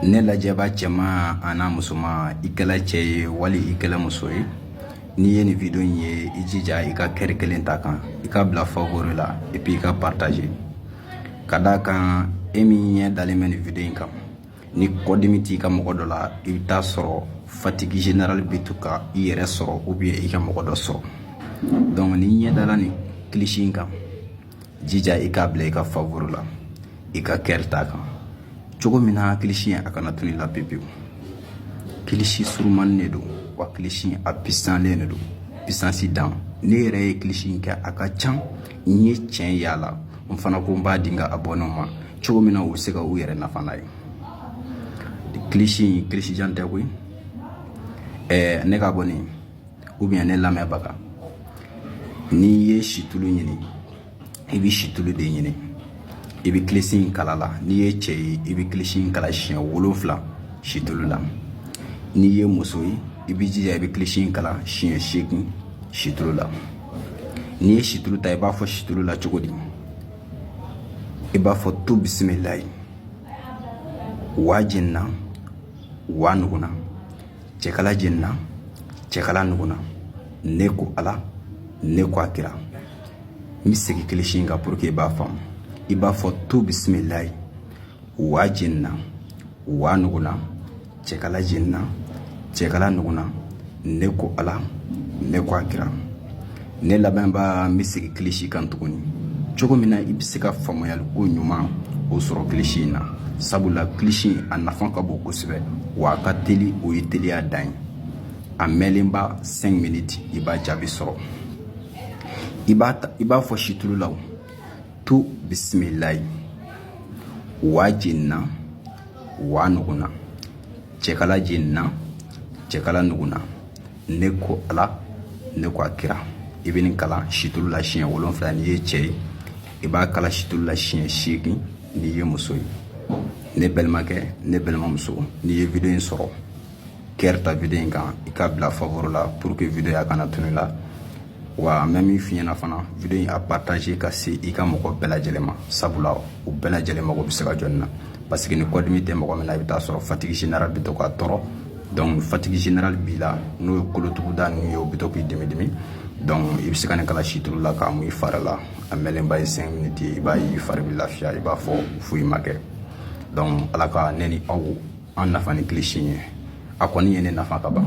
ne lajɛbaa cɛman an'a musoman i kɛla cɛ ye wali i kɛla muso ye n'i ye nin video in ye i jija i ka kɛri kelen ta kan i k'a bila favori la et puis i k'a partagé ka d'a kan e min ɲɛ dalen bɛ nin video in kan ni kɔdimi t'i ka mɔgɔ dɔ la i bɛ taa sɔrɔ fatigi général bɛ to ka i yɛrɛ sɔrɔ ou bien i ka mɔgɔ dɔ sɔrɔ donc n'i ɲɛ dala nin kilisi in kan jija i k'a bila i ka favori la i ka kɛri t'a kan cogo min na kilisi a kana tunu la pewu pewu kilisi surumannin de don wa kilisi a pisanlen de don pisansi dan ne yɛrɛ ye kilisi in kɛ a ka ca n ye tiɲɛ y'a la n fana ko n b'a di n ka abɔnew ma cogo min na u bɛ se ka u yɛrɛ nafa n'a ye kilisi in kilisi jan tɛ koyi ɛɛ ne ka bɔ nin u bɛ ne lamɛnbaga n'i ye situlu ɲini i bɛ situlu de ɲini i bɛ kilisi in kalan a la n'i ye cɛ ye i bɛ kilisi in kalan siɲɛ wolonfila situlu la n'i ye muso ye i b'i jija i bɛ kilisi in kalan siɲɛ seegin situlu la n'i ye situlu ta i b'a fɔ situlu la cogo di i b'a fɔ tu bisimilayi wa jenina wa nuguna cɛkala jenina cɛkala nuguna ne ko ala ne ko a kira n bɛ segin kilisi in kan pour que i b'a faamu i b'a fɔ tu bisimilayi wa jenina wa nuguna cɛkala jenina cɛkala nuguna ne ko ala ne ko a kira ne lamɛnbaa n bɛ segin kilisi kan tuguni cogo min na i bɛ se ka faamuyali ko ɲuman o sɔrɔ kilisi in na sabula kilisi a nafa ka bon kosɛbɛ wa a ka teli o ye teliya dan ye a mɛɛnnenba 5 miniti i b'a jaabi sɔrɔ i b'a ta i b'a fɔ situlu la tu bisimilayi wa jenina wa nuguna cɛkala jenina cɛkala nuguna ne ko ala ne ko a kira i bɛ nin kalan situlu la siɲɛ wolonfila n'i ye cɛ ye i b'a kalan situlu la siɲɛ seegin n'i ye muso ye ne balimakɛ ne balimamuso n'i ye video in sɔrɔ kɛri ta video in kan i k'a bila favori la pour que video a kana tunu la wa an bɛ min f'i ɲɛna fana video in a partagé ka se i ka mɔgɔ bɛɛ lajɛlen ma sabula u bɛɛ lajɛlen mago bɛ se ka jɔ nin na parce que ni kɔdimi tɛ mɔgɔ min na i bɛ taa sɔrɔ fatigi général bɛ to k'a tɔɔrɔ donc fatigi général b'i la n'o ye kolotuguda ninnu ye o bɛ to k'i dimi dimi donc i bɛ se ka nin kalan situlu la k'a mun i fari la a mɛɛnnenba ye cinq minutes ye i b'a ye i fari bɛ lafiya i b'a fɔ foyi ma kɛ donc ala ka ne ni aw an nafa ni kilisi ye a kɔni ye ne nafa ka ban